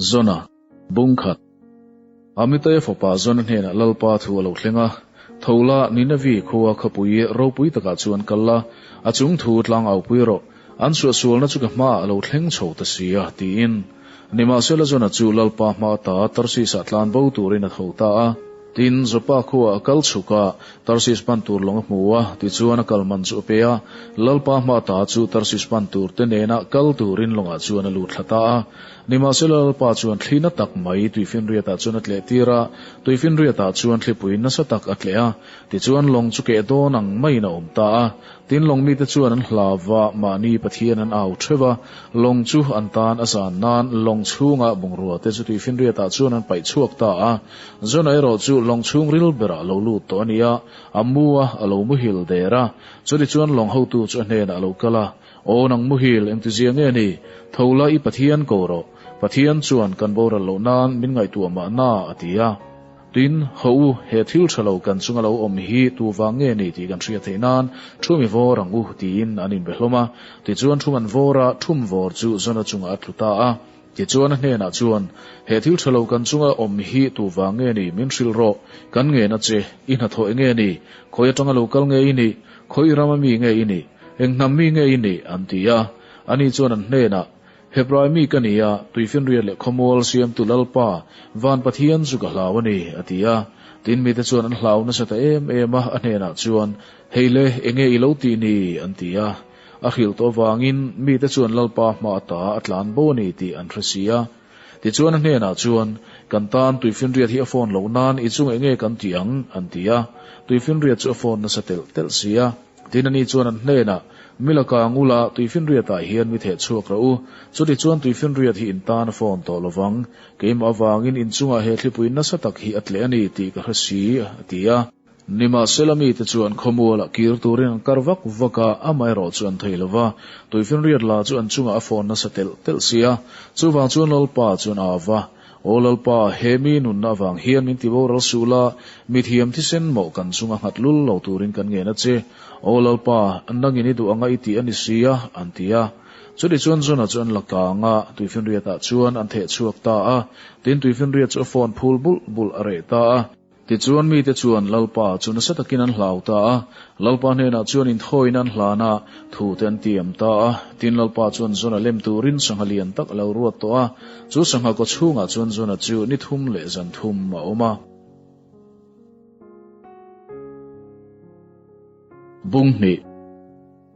Zona, bung khat. Amitaya fapa Zona hnenah Lalpa thu a lo thleng a, tho la, Ninavi khua khawpui ropui takah chu an kal la, a chung thu tlangaupui rawh, an chhuah sualna chu ka hmaah a lo thleng chho ta sia, tiin. Nimahsela Zona chu Lalpa hma a ta a, Tarsisah tlan bo turin a tho ta a. Tin, Joppa khua a kal chhukah, Tarsis pan tur lawng a hmu a, tichuan a kal man chu a pe a. Lalpa hma a ta chu Tarsis pan turte nena kal turin lawngah chuan a lut thla ta a. Nimahsela Lalpa chuan thli na tak mai tuifinriatah chuan a tleh tir a, tuifinriatah chuan thlipui nasa tak a tleh a. Tichuan lawng chu keh dawn ang maiin a awm ta a. Tin lawng mite chuan an hlav a, mahni Pathian an au theuh a. Lawng chu an tan a zan nan lawng chhunga bungrua te chu tuifinriatah chuan an paih chhuak ta a. Zona erawh chu lawng chhung ril berah a lo lut tawh a ni a, a mu a, a lo muhil der a. Chutichuan lawng hotu chu a hnenah a lo kal a. Aw nang muhil engti zia nge ni? Thola i Pathian ko rawh, Pathian chuan kan boral loh nan min ngaihtuah mah na a ti a. Tin, haw u, he thil tha lo kan chunga lo awm hi tu vang nge ni tih kan hria theih nan thu mi vawr ang u tiin an inbe hlawm a. Tichuan thu man vawra thum vawr chu zona chungah a tlu ta a, Tichuan a hnenah chuan, He thil tha lo kan chunga awm hi tu vang nge ni? Min hrilh rawh. Kan ngen a che. I hnathawih nge ni? Khawi atanga lo kal nge i ni? Khawi i rama mi nge i ni? Eng hnam mi nge i ni? an ti a. Ani chuan an hnenah, Hebrai mi ka ni a, tuifinriat leh khawmual siamtu Lalpa, van Pathian chu ka hlau a ni, a ti a. Tin mite chuan an hlau nasa ta em em a, a hnenah chuan, Hei le, enge i lo tih ni? an ti a. A hrilh tawh vangin mite chuan Lalpa hma a ta a tlan bo a ni tih an hre si a. Tichuan a hnenah chuan, Kan tan Tuifinriat hi a phone loh nan i chungah i nge kan tih ang? an ti a. Tuifinriat chu a phone nasa telh telh si a. Tin ani chuan an hnenah, Milaka ang ula, Tuifinriatah hian mi theh chhuak rawh u. Chutichuan Tuifinriat hi in tan a phone tawh lo vang. Keimah avangin inchungah he thlipui nasa tak hi a tleh a ni tih ka hre si, a ti a. Nimahsela mite chu an khawmual a kir turin an kar vak vak a, amaherawh chu an thei lo va. Tuifinriat la chu an chungah a phone nasa telh telh si a. Chuvang chuan Lalpa chuan a av a, Aw Lalpa, he mi nunna avang hian min ti boral suh la, mithiam thisen mawh kan chunga nghat lul lo turin kan ngen a che. Aw Lalpa, nangin i duh anga i tih a ni si a, an ti a. Chutih chuan John-a chu an la kang a, Tuifinriata chuan an theh chhuak ta a, tin Tuifinriat chu a phone phul bulh bulh a reh ta a. Tichuan mite chuan Lalpa chu nasa takin an hlau ta a, Lalpa hnenah chuan inthawina an hlan a, thute an tiam ta a. Tin, Lalpa chuan Jonah lem turin sangha lian tak a lo ruat tawh a. Chu sangha kaw chhungah chuan Jonah chu ni thum leh zan thum a awm a. Bung hnih.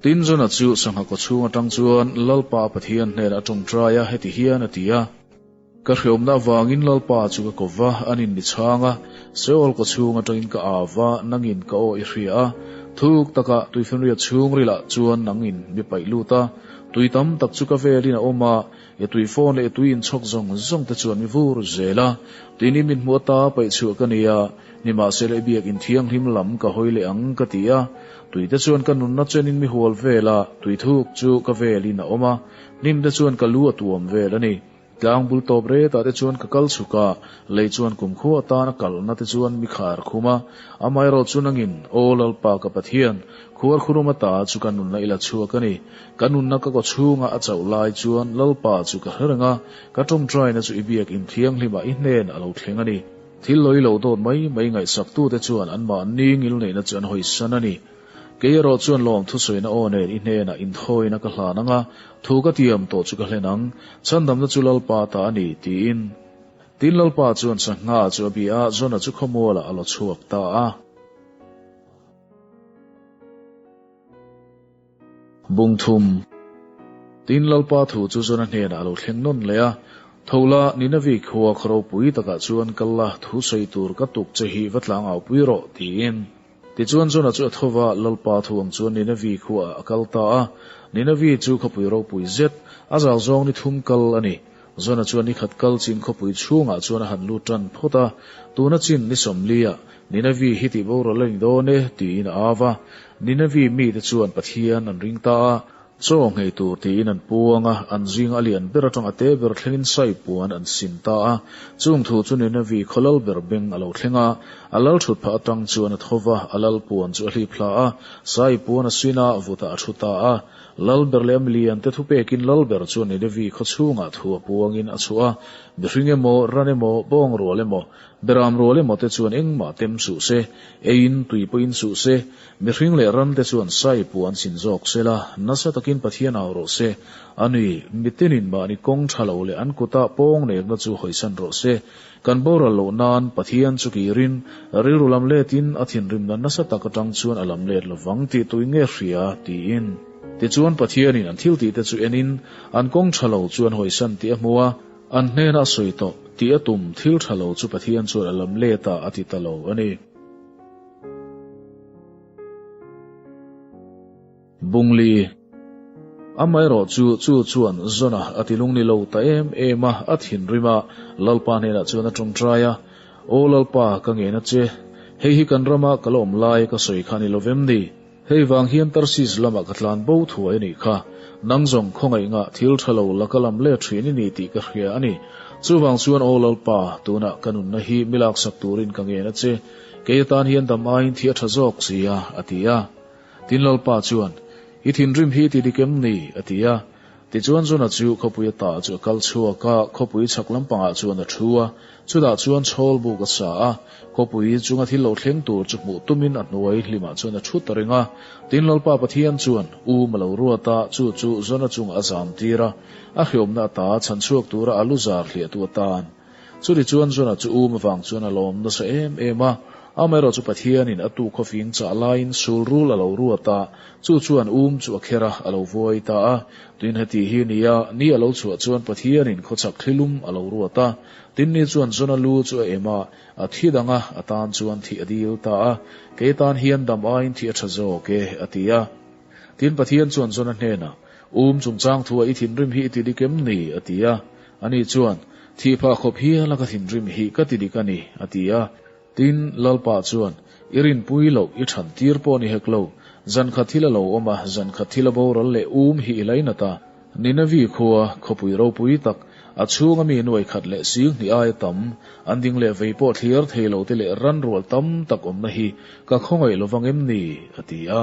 Tin, Jonah chu sangha kaw chhung atang chuan Lalpa Pathian hnenah a tawngtai a, heti hian a ti a. Ka hreawmna avangin Lalpa chu ka ko va, an in ni chhang a, Seoul kaw chhung atangin ka â va, nangin ka aw i hria a, thuk taka tuifenriat chhungrilah chuan nangin mi paih lut a, tui tam tak chu ka velin a awm a, i tui phone leh i tui inchhawk zawng zawng te chuan mi vur zel a, tin i mithmuh ata paih chhuah ka nia, nimahsela i biakin thianghlim lam ka hawi leh ang ka ti a, tui te chuan ka nunna chenin mi hual vela tui thuk chu ka velin a awm a, hnim te chuan ka lu a tuam vel a ni. Tlang bul tawp retah te chuan ka kal chhuk a, lei chuan kum khuh atan a kalh na te chuan mi kha a rkhum a, amaherawh chu nangin aw Lalpa ka Pathian, khuarkhurum ata chu ka nunna i la chhuak a ni, ka nunna ka kaw chhunga a chauh lai chuan Lalpa chu ka hre reng a, ka tawngtaina chu i biakin thianghlima i hnen a lo thleng a ni. Thil lawi lo dawt mai mai ngaihsak tu te chuan anmah ningil neihna chu an hawisan a ni. Keierawh chuan lawm thusawiina aw nen i hnena inthawina ka hlan anga thu ka tiam tawh chu ka hlen ang. Chhandamna chu Lalpa ta a ni, tiin. Tin Lalpa chuan Chhakhnga chu a bih a, Zona chu khawmuala a lo chhuak ta a. Bungthum. Tin Lalpa thu chu Zona hnena a lo thleng nawn leh a. Tho la, Nineveh khua kharopui takah chuan kal la, thu sawi tur ka tuk che hi va tlangaupui rawh, tiin. Tichuan Jonah chu a tho va, Lalpa thu ang chuan Nineveh khuaah a kal ta a. Nineveh chu khawpui ropui zet, a zal zawng ni thum kal a ni. Jonah chuan ni khat kal chin khawpui chhungah chuan a han lut tan phawt a. Tuna chin ni sawmlia, Nineveh hi tihboral a ni dawn e, tiin a au va. Nineveh mite chuan Pathian an ring ta a. Chaw nghei tur tiin an puang a, an zing a lian ber atanga te ber thlengin saipuan an sin ta a. Chung thu chu ni Navy khaw lal ber beng a lo thleng a, a lal thut phah atang chuan a tho va, a lal puan chu a hlip hla a, saipuan a sin a, vutah a thu ta a. Lal ber leh ami lian te thu pekin lal ber chuan ni Navy khaw chhungah thu a puangin a chhuah a, mihring emaw, ran emaw, bawng rual emaw, beram rual emaw te chuan engmah tem suh se, eiin, tui pawhin suh se, Mihring leh rante chuan Saipu an sin zawk sel a, nasa takin Pathian au rawh se. A ni, mite nin mahni kawng tha lo leh an kuta pawng nekna chu hawisan rawh se. Kan boral loh nan, Pathian chu kirin, rilru lam letin a thinrimna nasa tak atang chuan a lam let lovang tih tui nge hria? tiin. Tichuan Pathianin an thil tihte chu enin, an kawng tha lo chuan hawisan tih a hmu a, an hnena a sawi tawh tih a tum thil tha lo chu Pathian chuan a lam leta a ti ta lo a ni. Bungli, Amaherawh chu chu chuan Zona a ti lung ni lo ta em em a, a thinrim a, Lalpa hnenah chuan a tawngtai a, Aw Lalpa ka ngena che, hei hi kan rama ka la awm lai ka sawi kha a ni lovem ni? Hei vang hian Tarsis lamah ka tlan bo thua i nih kha. Nang zawng khawngaihngah thil tha lo la ka lam let thin i ni tih ka hria a ni. Chuvang chuan aw Lalpa, tunah ka nunna hi mi laksak turin ka ngen a che. Kei atan hian dam aiin thi a tha zawk sia, a ti a. Tin Lalpa chuan, I thinrim hi ti dik em ni? a ti a. Tichuan Jona chu khawpui a tah chu a kal chhuak a, khawpui chhak lampangah chuan a thu a, chutah chuan chawl buk a sa a, khawpui chunga thil lo thleng tur chu hmuh tumin a hnuai hlimah chuan a thut a ring a. Tin, Lalpa Pathian chuan um a lo ruat a, chu chu Jona chungah a zam tir a, a hliawmna ata chhan chhuak tura a lu zar hliahtu atan, Chutih chuan Jonah chu um avang chuan a lawm nasa em em a, amaherawh chu Pathianin a tu khawfing chah laiin sul rul a lo ruat a, chu chuan um chu a kher a, a lo vuai ta a. Tuin heti hi ni a, ni a lo chhuah chuan Pathianin khawchhak thlilum a lo ruat a. Tin ni chuan Jonah lu chu a em a, a thi dang a, a tan chuan thih a dil ta a, Kei tan hian dam aiin thih a tha zawk e, a ti a. Tin Pathian chuan Jonah hnenah, Um chungchang thu-ah i thinrim hi i ti dik em ni? a ti a. Ani chuan, Thih phah khawp hiala ka thinrim hi ka ti dik a ni, a ti a. Tin, Lalpa chuan, I rinpui loh, i chhan tir pawh a ni hek lo. Zan khat thil a lo awm a, zan khat thil a boral leh um hi i la i nat a. Nineveh khua khawpui ropui tak, a chhunga mi nuai khat leh sing hnih aia tam, an ding leh vei pawh thlir thei lo te leh ran rual tam tak awmna hi ka khawngaih lo vang em ni? a ti a.